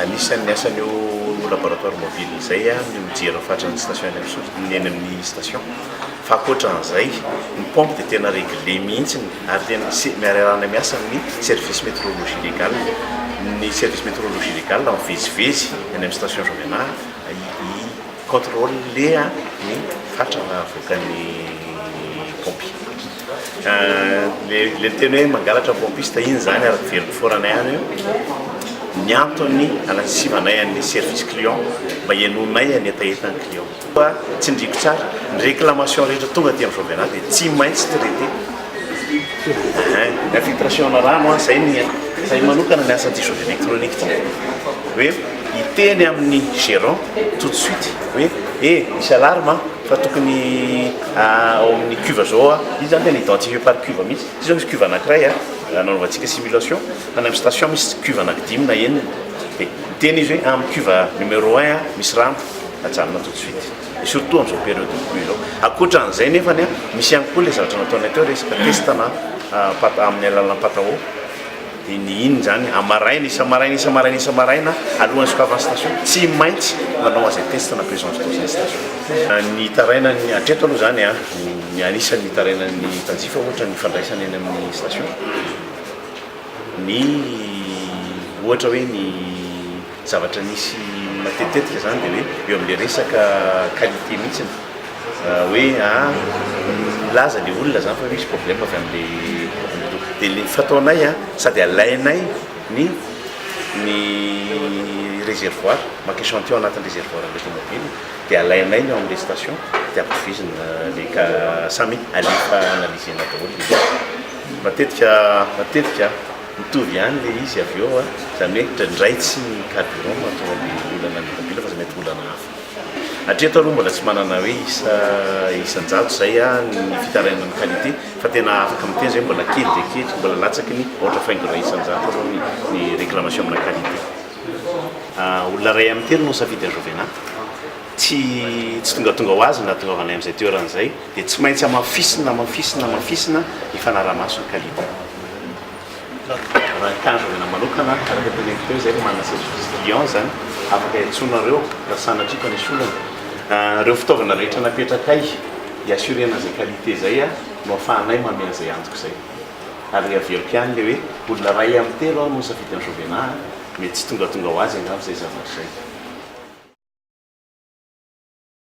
Anisan'ny asan'io laboratoire mobile izay ny mijery ny fatran'ny station eny amin'ny soroka, ny eny amin'ny station. Fa ankoatran'izay, ny pompe dia tena regle mihitsy ary tena se- miarahana miasa amin'ny service météorologie légale. Ny service météorologie légale mivezivezy eny amin'ny station Jean Menard hi-controler ny fatra avoakan'ny pompe. Ilay teny hoe mangalatra ny pompiste iny izany ary very mpiforana ihany io. Ny antony hanasivanay an'ny service client mba henoinay ny hetahetan'ny client. Fa tsindriako tsara, ny réclamation rehetra tonga aty amin'ny Jovenat dia tsy maintsy traité. Ny infiltration ana rano, izay ny izahay manokana ny asan'ity Jovy Electronique ity. Hoe hiteny amin'ny gérant tout de suite hoe eh misy alarme a! Fa tokony ao amin'ny cuve zao a, izy zany tena identifier par cuve mihitsy. Ity zao misy cuve anankiray a, nanaovantsika simulation, any amin'ny station misy cuve anaky dimy na enina, dia miteny izy hoe amin'ny cuve numéro un a misy rano, ajanona tout de suite. Et surtout amin'izao période de pluie izao. Ankoatra an'izay nefany a, misy ihany koa ilay zavatra nataonay teo resaka test-na amin'ny alalan'ny patawo. Iny iny izany a maraina isa-maraina isa-maraina isa-maraina alohan'ny sokavan'ny station tsy maintsy manao an'izay test na présence d'eau izay ny station. Ny hitarainan'ny hatreto aloha izany a ny anisan'ny hitarainan'ny mpanjifa ohatra ny fandraisana eny amin'ny station ny ohatra hoe ny Zavatra misy matetitetika izany dia hoe eo amin'ilay resaka qualité mihitsy ny hoe milaza ilay olona izany fa hoe misy problème avy amin'ilay dia ny fataonay a sady alainay ny ny réservoir maka échantillon anatin'ny réservoir an'ilay tomobila dia alainay ny ao amin'ilay station dia ampifizina ilay ka samy alefa analyser-na daholo matetika matetika Mitovy ihany le izy avy eo an! Izany hoe indraindray tsy ny carburant no mahatonga an'ilay olana ny tômôbila fa mety olana hafa. Hatreto aloha mbola tsy manana hoe isa isan-jato izay an ny fitarainan'ny qualité fa tena afaka miteny izay hoe mbola kely dia kely, mbola latsaky ny aotra faingo iray isan-jato aloha ny ny réclamation amina qualité. Olona iray amin'ny telo no nisafidy an'i Jovena. Tsy tsy tongatonga ho azy no nahatongavanay amin'izay toerana izay. dia tsy maintsy amafisina, amafisina, amafisina ny fanarahamaso ny kalita. Raha ny tanjona manokana, araka teny amin'ny feo izay no manana saisie fils client izany, afaka iantsoanareo raha sanatria ka misy olana. Ireo fitaovana rehetra napetrakay hi-assurer an'izay qualité izay no afahanay manome an'izay antoko izay. Ary averiko ihany ilay hoe olona iray amin'ny telo aho no misafidy an'i Jovena, mety tsy tongatonga ho azy angamba izay zavatra izay.